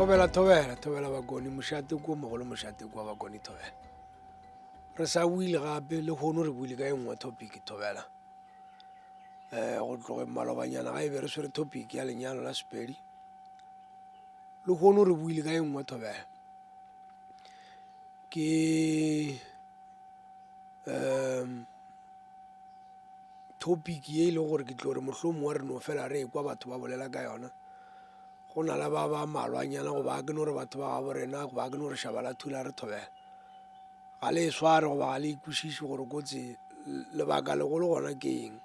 thobela thobela thobela bakoni mošate ko mogolo mošate kwa bakoni thobela re sa buile gape le kgono re buile ka e nngwe topic thobela um go tloge malobanyana ga e be re swere topic ya lenyalo la sepedi le kgono re buile ka e nngwe thobela ke um topic ye e leng gore ke tlo re mohlomong wa re no fela re kwa batho ba bolela ka yona go na le ba ba malwanyana goba ke no re batho ba gabo rena goba ke no re šaba la thula re thobela ga le e sware goba ga le ikwešiše gore kotsi lebaka legolo gona ke eng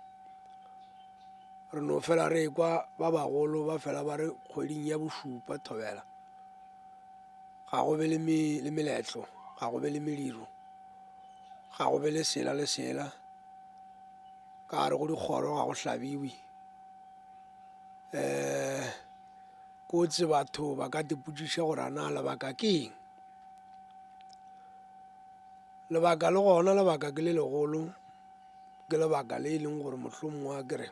re no fela re kwa ba bagolo ba fela ba re kgweding ya bošupa thobela Ga go be le, me, le meletlo, ga go be le mediro, ga go be le sela le sela. Ka gare go dikgoro ga go hlabiwe. Um kotsi batho ba ka dipotšiša gore a na lebaka ke eng. Lebaka le gona lebaka ke le legolo, ke lebaka le e leng gore mohlomongwe a ke re.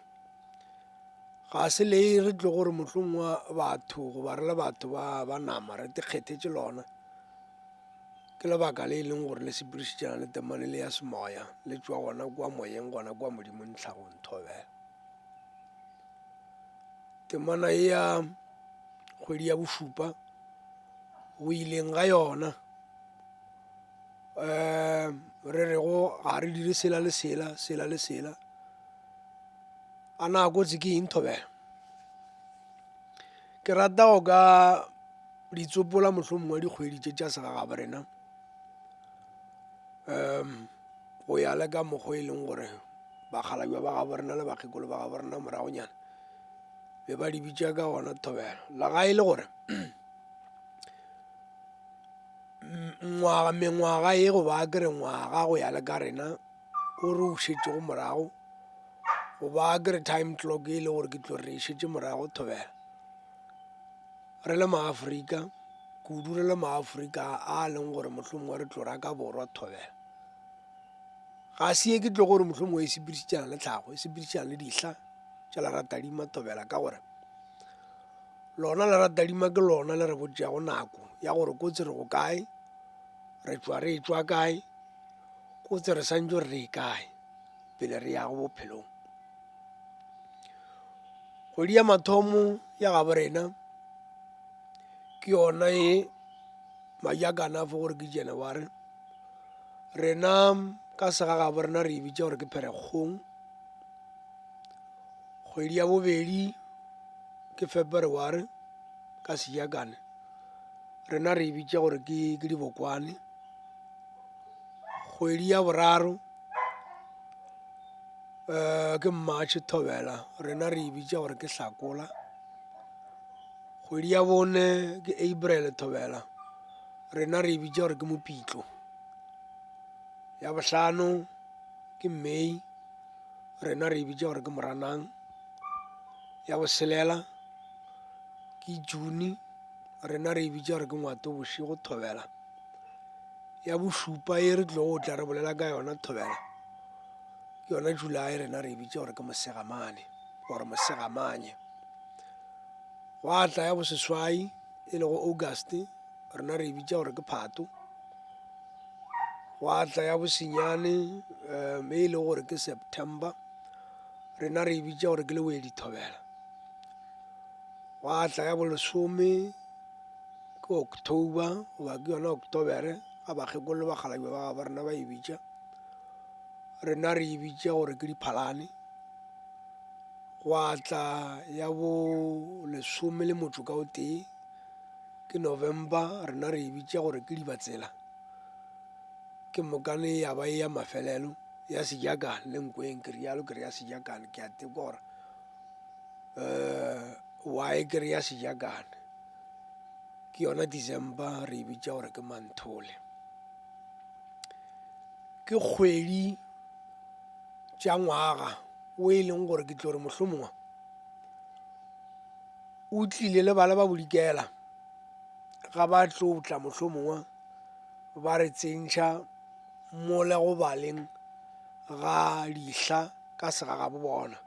Ga se le re tlo gore mohlong wa batho goba re le batho ba ba nama re tekgethetše lona ke lebaka le e leng gore le sepirišitšana le temane le ya semoya le tswa gona kwa moyeng gona kwa modimong tlhagong thobela temana e ya kgwedi ya bošupa go ileng ga yona um re rego ga re dire sela le sela sela le sela A na a kotsi ke eng, Thobela? Ke rata go ka di tsopola mohlomongwe wa dikgwedi tše tša segagaborena um go ya le ka mokgwa e leng gore bakgalabja ba gabo rena le bakgekolo ba gabo rena moragonyana be ba di bitša ka gona thobelo la ga e le gore ngwaga mengwaga e go ba kere ngwaga go ya le ka rena o re o šetšego morago goba ke re time clock e le gore ke tlo re šetše morago thobela re le maaforika kudu re le maaforika a leng gore mohlomongwe re tlo ra ka borwa thobela ga se ye ke tlo gore mohlomongwe e sepedišitšana le tlhago e sepedišitšana le dihla tša leratadima thobela ka gore lona leratadima ke lona le re botšeago nako ya gore kotsi re go kae re tšwa re e tšwa kae kotse re santse re e kae pele re yago bophelong kgwedi ya mathomo ya gabo rena ke yona e madi a kana fo gore ke january rena ka sega gabo rena re e bitsa gore ke pherekgong kgwedi ya bobedi ke february ka sejakane rena re e bitsa gore ke dibokwane kgwedi ya boraro ke mmatšhe thobela rena re e bitša gore ke hlakola kgwedi ya bone ke april thobela rena re e bitša gore ke mopitlo ya bohlano ke may rena re e bitša gore ke moranang ya botshelela ke june Rena re e bitša gore ke ngwato bošego thobela ya bošupa e re tlogo tla re bolela ka yona thobela ke yona july rena re e bitša gore ke mosegamane gore mosegamanye gwa tla ya boseswai e lego august rena re e bitša gore ke phato gwa tla ya bosenyane um e lego gore ke september rena re e bitša gore ke lewedi thobela Gwa tla ya bolesome ke October goba ke yona October ga bakgekolo le bakgalabje ba gabo rena ba e bitša rena re e bitša gore ke diphalane gwa tla ya bo lesome le motho ka o tee ke November rena re e bitša gore ke dibatsela ke mokane ya ba e ya mafelelo ya sejakane le nkweng ke realo ke re ya sejakane ke a tekora um y ke re ya sejakane ke yona december re e bitša gore ke manthole ke kgwedi tša ngwaga o e leng gore ke tlo re mohlomongwe o tlile le bala ba bodikela ga ba tlo tla mohlomongwe ba re tsentšha mole go baleng ga dihla ka segagabo bona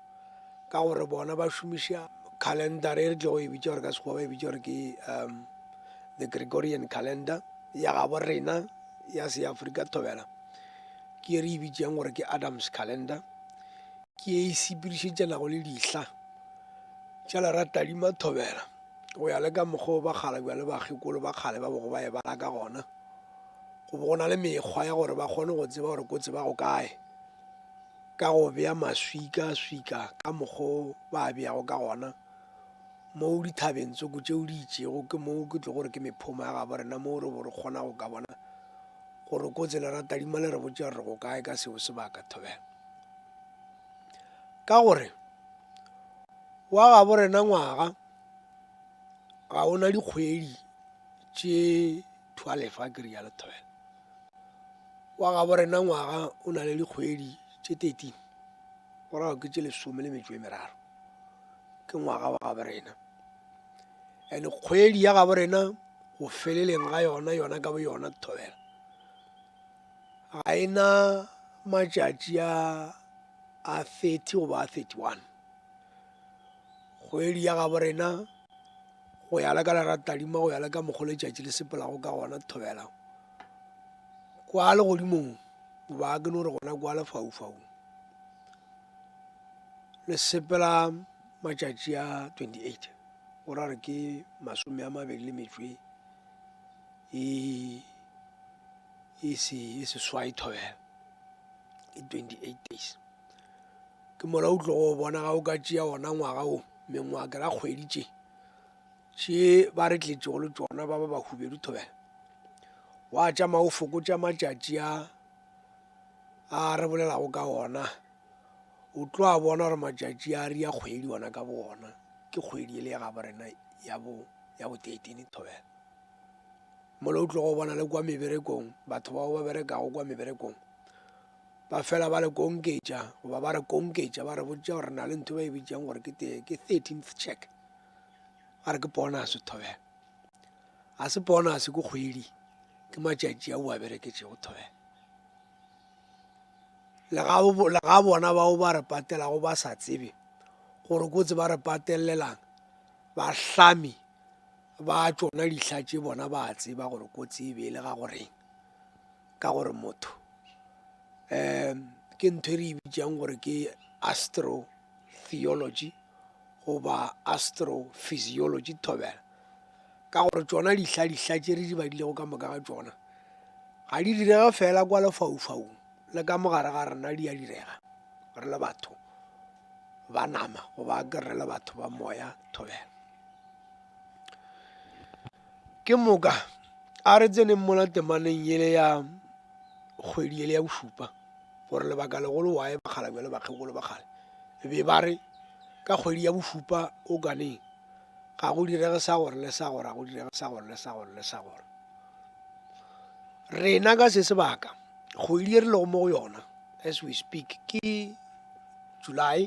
ka gore bona ba šomiša calendar e re tlo go e bitša gore ka sekgowa ba e bitša gore ke um the gregorian calendar ya gabo rena ya seafrika thobela ke e re e bitšang gore ke adams calendar ke e sepirišetšana go le dihla tša lera tadima thobela go ya le ka mokgwa o ba kgala bjale bakgekolo ba kgale ba bogo ba e bala ka gona go bo go na le mekgwa ya gore ba kgone go tseba gore ko tseba go kae ka go bea maswika-swika ka mokgo ba a beago ka gona mo dithabeng tsoko tšeo di itšego ke mo ke tlo gore ke mephoma ya gabo rena mo re bo re kgona go ka bona gore kotse le ratadima le re botša re go kae ka seo sebaka thobela ka gore wa gabo rena ngwaga ga ona dikgwedi tše Thwale fa ke rialo Thwele. Wa gabo rena ngwaga o na le dikgwedi tše 13 go rago ke tše lesome le metšo e meraro ke ngwaga wa gabo rena ene kgwedi ya gabo rena go feleleng ga yona yona ka bo yona thobela ga e na matšatši a a 30 goba a 31 kgwedi ya gabo rena go ya le ka lera tadima go ya le ka mokgwa letšatši le sepelago ka gona thobela kwa legodimong goba ke no re gona kwa lefaufau le sepela matšatši a 28 go ra re ke masome a mabedi le metswe e, e, e seswai thobela ke 28 days ke mola o tlo go bona ga o ka tšea ona ngwaga o mengwaga ke ra kgwedi tše tše ba re tletšego le tšona ba ba ba hubedu thobela wa tšama o fokotša matšatši a a re bolelago ka ona o tlo a bona gore matšatši a re ya kgwedi ona ka bo ona ke kgwedi e le ya gabo rena ya bo ya bo thirteen thobela mola o tlo go bona le kwa meberekong batho bao ba berekago kwa meberekong Ba fela ba le konketša goba ba re konketša ba re botša gore na le ntho ba e bitšang gore ke te ke thirteenth check a re ke bonase thobela ga se bonase ke kgwedi ke matšatši a o a bereketšego thobela le ga bona bao ba re patelago ba sa tsebe gore kotse ba re patelelang bahlami ba tsona dihla tše bona ba tseba gore kotsi e be e le ga goreng ka gore motho um ke ntho e re e bitsang gore ke astro theology goba astro physiology thobela ka gore tsona dihla dihla tše re di badilego ka moka ga tsona ga di direga fela kwa lefaufaung le ka mogare ga rena di a direga re le batho ba nama goba ke re le batho ba moya thobela Ke moka a re tseneng mola temaneng yele ya kgwedi yele ya bošupa gore lebaka legolo wae bakgala bjale bakgekolo ba kgale be ba re ka kgwedi ya bošupa o kaneng ga go direge sa gore le sa gore ga go direge sa gore le sa gore le sa gore rena ka se sebaka kgwedi e re lego mo go yona as we speak ke july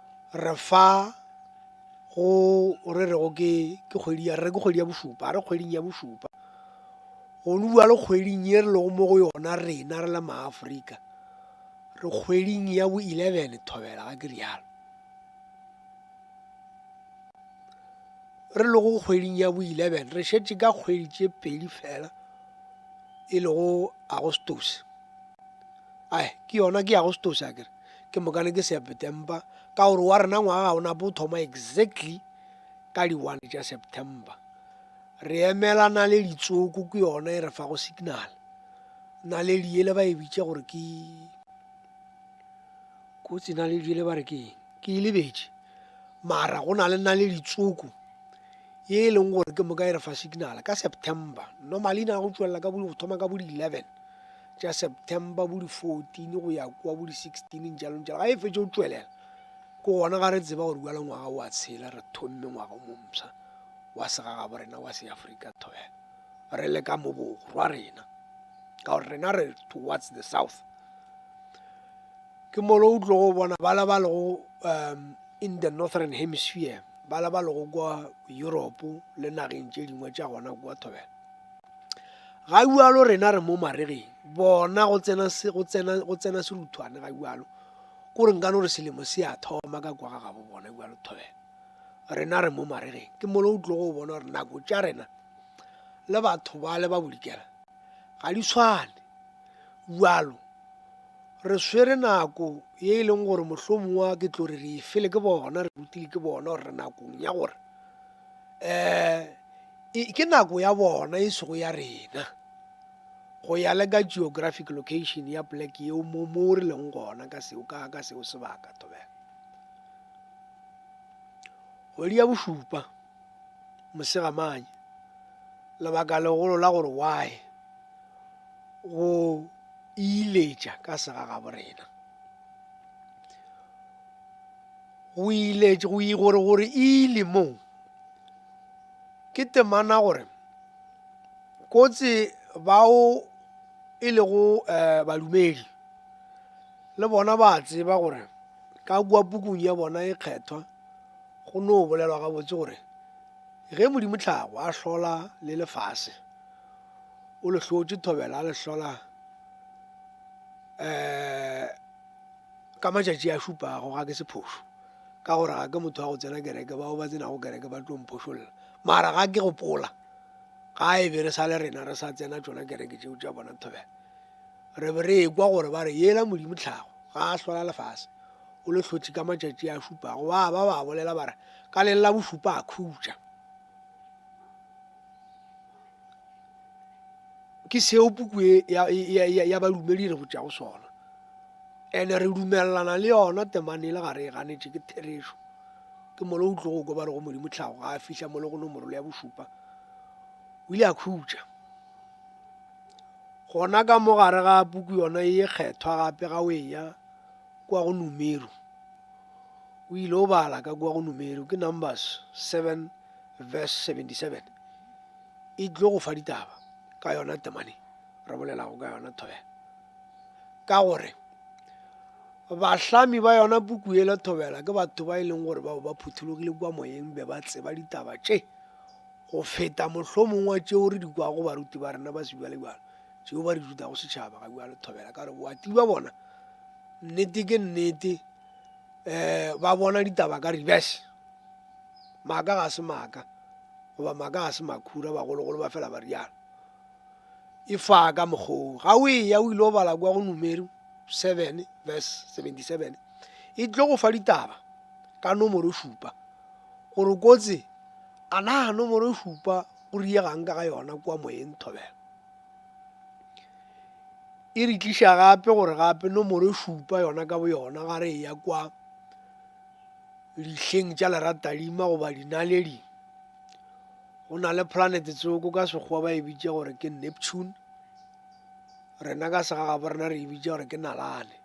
re fa go re rego ke ke kgwedi ya re ke kgwedi ya bošupa a re kgweding ya bošupa go no bjalo kgweding ye re lego mo go yona rena re le maaforika re kgweding ya bo eleven thobela ga ke rialo re lego kgweding ya bo eleven re šetše ka kgwedi tše pedi fela e lego agostos ai ke yona ke agostos a kere Ke mokane ke September ka gore wa rena ngwaga ga ona bo thoma exactly ka di one tša September. Re emela naledi tsoko ke yona e re fa go signal. Naledi ele ba e bitša gore ke kotsi naledi ele ba re ke ke e lebetše. Mara go na le naledi tsoko e e leng gore ke moka e re fa signal ka September. Normally na go tšwelela ka bo thoma ka bo di eleven. tša september bo di-fourteen go ya kwa bo di-sixteen jalong jalo ga e fetse o tswelela ke gona ga re tseba gore bjala ngwaga wa tshela re thomme ngwaga o mompsha wa segagabo rena wa seafrika thobela re le ka mo borwa rena ka gore rena re towards the south ke molo o tlogo bona bala ba lego um in the northern hemisphere bala ba lego kwa europe le nageng tše dingwe tša gona kua thobela ga bjalo rena re mo maregeng bona go tsena go tsena go tsena seruthwane ga bjalo ko re nkano re selemo se a thoma ka kwa ga gabo bona bjalo thobela rena re mo maregeng ke molo o tlogo o bona gore nako tša rena le batho ba le ba bodikela ga di tshwane bjalo re swere nako ye e leng gore mohlomongwa ke tlo re re e fele ke bona re rutile ke bona gore re nakong ya gore um ke nako ya bona e sego ya rena go ya le ka geographic location ya poleke yeo mo mo re leng gona ka seo ka ka seo sebaka thobela kgwedi ya bošupa mosegamanye lebaka legolo la gore why go iletša ka segagaborena go ile go yi gore gore ile mo ke temana gore kotsi bao e lego um badumedi le bona ba tseba gore ka kua pukung ya bona e kgethwa go no bolelwa gabotse gore ge modimo tlhago a hlola le lefase o le hlotše thobela a le hlola um Ka matšatši a šupago ga ke se phošo, ka gore ga ke motho wa go tsena kereke, bao ba tsenago kereke ba tlo mphošolla. Mara ga ke gopola, ga e be re sa le rena re sa tsena tšona kereke tšeo tša bona thobela, re be re ekwa gore ba re, Yela Modimo tlhago, ga a hlola lefase, o le hlotše ka matšatši a šupago. Ba ba ba bolela ba re, Ka leng la bošupa a khutša. ke seo puku e ya, ya, ya, ya balumedi re go tšea go sona ene re dumelelana le yona temane e le gare e ganetše ke therešo ke molo o tlogo kwa ba rego modimo tlhago ga a fihla molo go nomorolo ya bošupa o ile a khutša gona ka mo gare ga puku yona e kgethwa gape ga o eya kwa go numero o ile o bala ka kwa go numero ke numbers seven verse 77 e tlo go fa ditaba ka yona temane re bolelago ka yona thobela ka gore bahlami ba yona puku e la thobela ke batho ba e leng gore bao ba phuthologile kwa moyeng be ba tseba ditaba tše go feta mohlomongwa tšeo re di kwago baruti ba rena ba sebjalebjalo tšeo ba re dutago setšhaba ga bjalo thobela ka gore boati ba bona nnete ke nnete um ba bona ditaba ka reverse Maaka ga se maaka, goba maaka ga se makhura, bagologolo ba fela ba rialo. Efa ka mokgwa wo, ga o eya o ile o bala kua go Numeri 7 verse 77, e tlo go fa ditaba ka nomoro šupa, gore kotse a na nomoro šupa go riega'ng ka ga yona kua moyeng thobela. E re tliša gape gore gape nomoro šupa yona ka boyona ga re eya kua, Lihleng tša leratalima goba dinaledi, go na le planete tsoko ka sekgowa ba e bitša gore ke Neptune, rena ka segagabo rena re e bitša gore ke Nalane.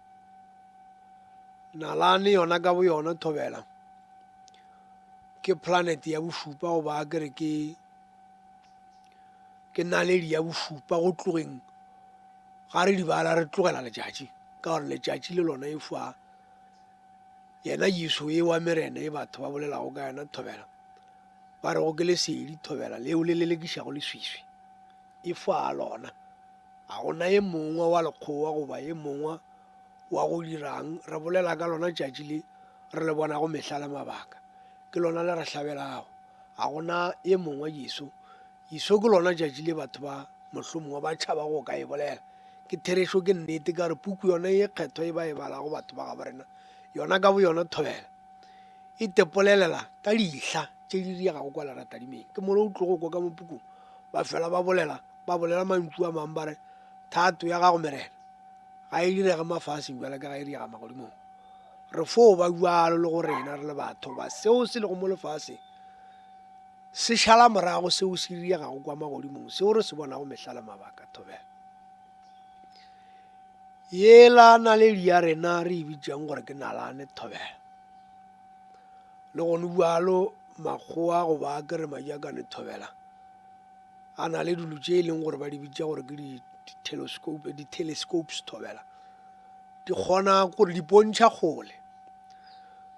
Nalane yona ka bo yona thobela ke planete ya bošupa goba a kere ke ke naledi ya bošupa go tlogeng ga re dibala re tlogela letšatši ka gore letšatši le lona e fa Yena Jesu e wa merena ye batho ba bolelago ka yona thobela, ba rego ke lesedi thobela leo le lelekišago leswiswi, e fa a lona. A go na ye mongwe wa lekgowa goba ye mongwe wa go dirang re bolela ka lona tšatši le re le bonago mehla le mabaka? Ke lona le re hlabelago. A go na ye mongwe Jesu Iso ke lona tšatši le batho ba mohlomongwe ba tšhaba go ka e bolela. Ke therešo, ke nnete, ka gore puku yona ye kgethwa ye ba e balago batho ba gabo rena yona ka boyona thobela e tepolelela ka dihla tše di diegago kwa leratadimeng. Ke mola o tlogo kwa ka mo pukung ba fela ba bolela, ba bolela mantšu a mang ba re, Thato ya gago Merena ga e direge mafaseng bjalo ka ga e diega magodimong. Re fo ba bjalo le go rena re le batho ba seo se lego mo lefaseng. Se šala morago seo se riregago kwa magodimong seo re se bonago mehla le mabaka. Thobela. Yela naledi ya rena re e bitšang gore ke nalane. Thobela. Le gone bjalo makgowa goba a kere majakane thobela a na le dilo tše e leng gore ba di bitša gore ke di-telescopes thobela di kgona gore di pontšha kgole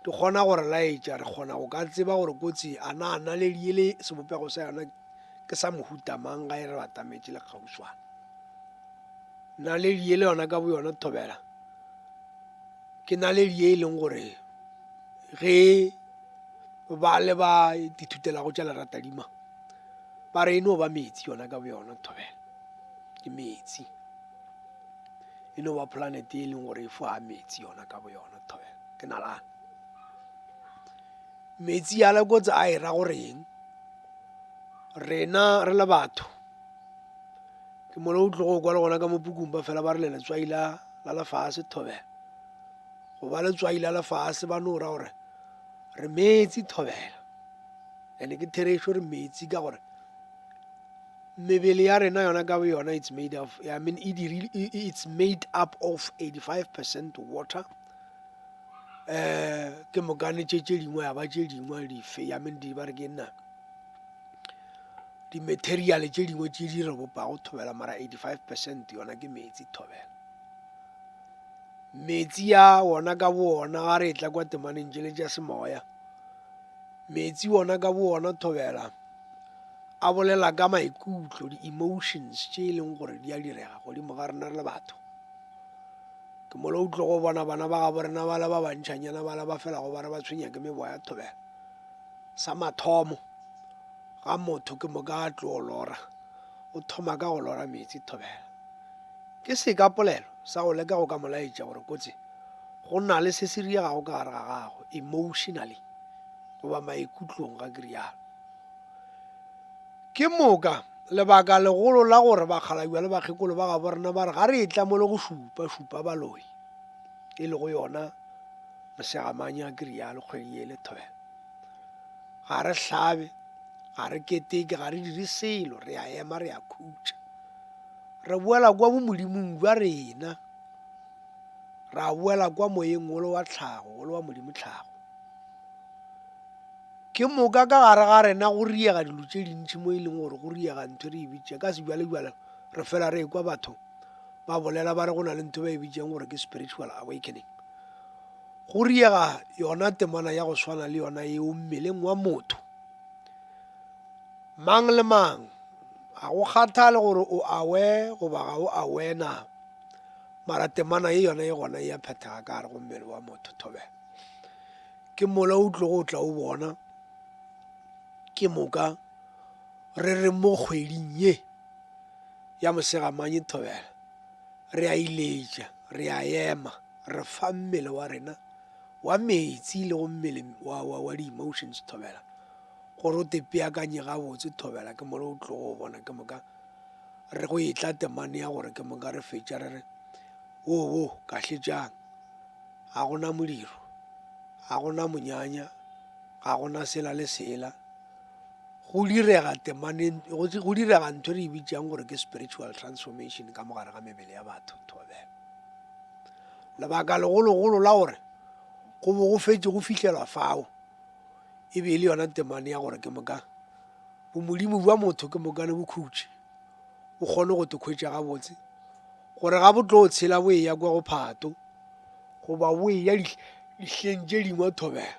di kgona go re laetša, re kgona go ka tseba gore kotsi a na naledi ye le sebopego sa yona ke sa mohuta mang ga e re batametše le kgauswana naledi ye le yona ka bo yona thobela ke naledi ye e leng gore ge ba le ba dithutelago tša leratadima ba re e no ba metsi yona ka bo yona thobela ke metsi e no ba planete e leng gore e foga meetse yona ka bo yona thoya ke nalane meetse ya lekotse a e ra gore eng rena re le batho ke mole o tlogo kwa le gona ka mopukung ba fela ba re le letswai la la lefase thobela go ba letswai la lefase ba no ra gore re meetse thobela ande ke therešo re meetse ka gore Mebele ya rena yona ka boyona it's made of, I mean, e dirile, e, e, it's made up of 85 percent water. Eh, ke mokane tše tše dingwe ya ba tše dingwe dife, I mean, di ba re ke nna di-material tše dingwe tše di re bopago thobela mara 85 percent yona ke metsi thobela metsi ya wona ka bo ona ga re e tla kwa temaneng tšele tša semoya metsi ona ka bo ona thobela a bolela ka maikutlo, di-emotions tše e leng gore di a direga godimo ga rena re le batho. Ke mo le o tlo go bona bana ba gabo rena ba le ba bantšhanyana ba le ba fela go ba re ba tshwenya ke mebo ya thobela. Sa mathomo ga motho ke mo ka tlo lora, o thoma ka go lora metsi thobela. Ke se ka polelo sa go leka go ka molaetša gore kotsi go na le se se riegago ka gare ga gago emotionally goba maikutlong ga ke rialo. Ke moka lebaka legolo la gore bakgalabjwa le bakgekolo ba gabo rena ba re ga re etla mole go šupa, šupa baloi, e lego yona mosegamanya a ke rialo kgwedi ye le thobela. Ga re hlabe, ga re keteke, ga re dire selo, re a ema re a khutša. Re boela kwa bomodimong jwa rena, ra boela kwa moyeng wolo wa tlhago, wolo wa Modimo tlhago. Ke moka ka gare ga rena go riega dilo tše dintši mo e leng gore go riega ntho e re e bitša ka sebjalebjale re fela re ekwa batho ba bolela ba re go na le ntho ba e bitšang gore ke spiritual awakening go riega yona temana ya go swana le yona eo mmeleng wa motho mang le mang ga go kgathale gore o awe goba ga o awe na mara temana ye yona e gona e ya phethega ka gare go mmele wa motho thobela Ke mola o tlogo o tla o bona ke moka re re mo kgweding ye ya mosegamanye thobela re a iletša re a ema re fa mmele wa rena wa metsi le go mmele wa, wa, wa di-emotions thobela gore o tepeakanye gabotse thobela ke mola o tlogo o bona ke moka re go etla temane ya gore ke moka re fetša re re wo wo kahletšang Ga go na modiro, ga go na monyanya, ga go na sela le sela. Go direga temaneng, go direga ntho re e bitsang gore ke spiritual transformation ka mogare ga mebele ya batho thobela. Lebaka legologolo la gore go bo go fetse go fitlhelwa fao e be e le yona temane ya gore ke moka bomodimo bja motho ke moka le bokhutši o kgone go te khwetša gabotse gore ga botlo o tshela bo eya kwa go phato goba bo eya dihleng tše dingwe thobela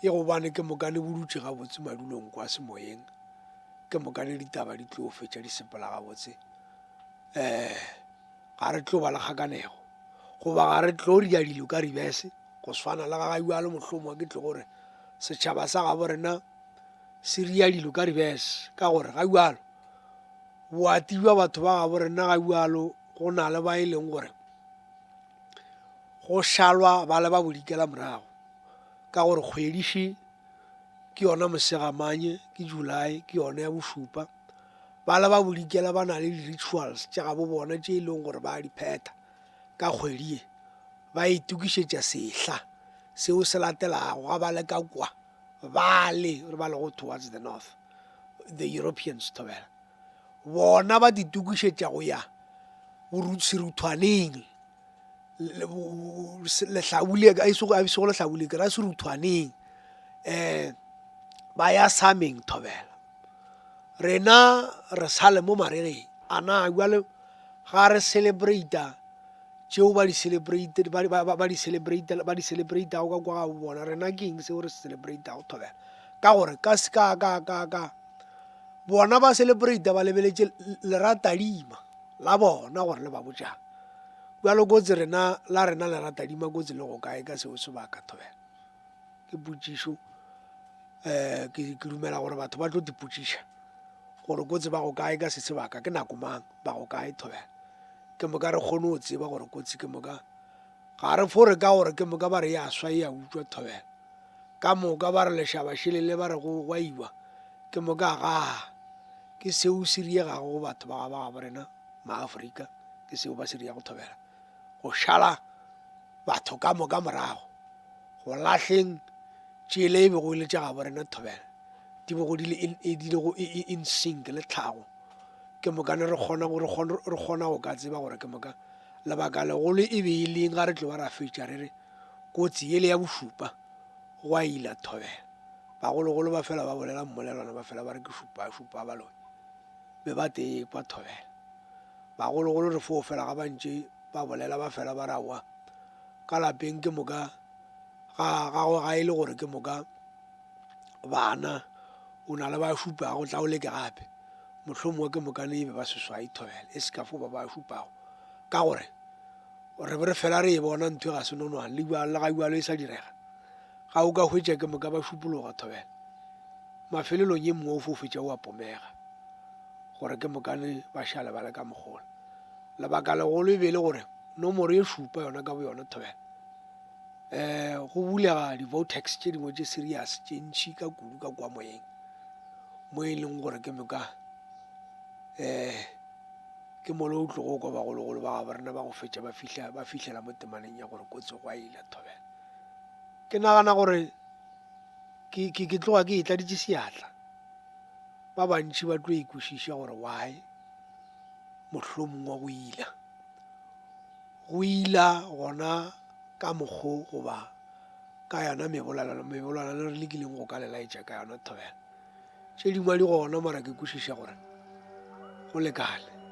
e gobane ke mokane bo dutše gabotse madulong kwa semoyeng ke mokane ditaba di tlo fetša di sepela gabotse um ga re tlo ba le kgakanego goba ga re tlo ria dilo ka ribese go swana le ga ga yalo mohlomongwe ke tle gore setšhaba sa gabo rena se ria dilo ka reverse, ka gore ga bjalo boati bja batho ba gabo rena ga bjalo go na le ba e leng gore go šalwa ba le ba bodikela morago ka gore kgwediši ke yona mosegamanye ke july ke yone ya bošupa ba le ba bodikela ba na le di-rituals tša gabo bona tše e leng gore ba di phetha ka kgwedi ye ba itokišetša sehla seo se latelago ga ba le ka kwa Bale, re ba lego towards the north, the Europeans, Thobela, bona ba ditokišetša go ya seruthwaneng, lehlabule, a sego lehlabule, ke ra seruthwaneng, um ba ya sameng, Thobela, rena re sale mo maregeng. A na jwale. Ga re celebrata tšeo ba di celebrate, ba, ba, ba, ba di celebrate, ba di celebratago ka kwa ga bo bona. Rena ke eng seo re se celebratago thobela? Ka gore ka, ka, ka, ka, ka bona ba celebrata ba lebeletše leratadima la bona gore le ba botšang. Bjalo kotsi rena la rena leratadima kotsi le go kae ka seo sebaka thobela? ke potšišo um ke dumela gore batho ba tlo dipotšiša gore kotsi ba go kae ka se sebaka, ke nako mang, ba go kae thobela ke moka re kgone go tseba gore kotsi ke moka ga re fore ka gore ke moka ba re ya swa e ya utswa thobela ka moka ba re lešaba šelele ba re go gwaiwa ke moka ga ke seo se riegago go batho ba ga ba gabo rena maaforika ke seo ba se rieya go thobela go šala batho ka moka morago go lahleng tšela e bego e le tša gabo rena thobela di bego di le in, e, di lego e, e, in sync le tlhago ke moka ne re kgona go- re kgona- re kgona go ka tseba gore ke moka lebaka legolo e be e leng ga re tloba ra fetša re re kotsi ele ya bošupa go a ila thobela bagologolo ba fela ba bolela mmolelwana ba fela ba re ke šupa šupa baloi be ba tee kwa thobela Bagologolo re foufela ga ba ntše ba bolela ba fela ba re aowa ka lapeng ke moka ga gagwe ga e le gore ke moka bana o na le ba šupago tla o leke gape mohlomongwe ke mokane ebe ba seswai thobela e se ka fo ba ba šupago ka gore re be re fela re e bona ntho e ga se nonwane le bjalo le ga bjalo e sa direga ga o ka hwetša ke moka ba šupologa thobela mafelelong e mongwe o fofetša o a pomega gore ke mokane ba šale ba le ka mogola. Lebaka legolo e be le gore nomoro e šupa yona ka boyona thobela um go bulega di-votex tše dingwe tše serious tše ntšhi ka kudu ka kwa moyeng mo e leng gore ke moka um ke mole o tlogo kwa bagologolo ba gabo rena ba go fetša ba fihla ba fihlela mo temaneng ya gore kotsi go a ile thobela ke nagana gore ke tloga ke e tladitše seatla Ba bantši ba tlo ikwešiša gore why mohlomongwe go ila. Go ila gona ka mokgo goba ka yona mebolelano mebolelano re lekileng go ka le laetša ka yona thobela. Tše dingwe di gona mara ke kwešiša gore go lekane.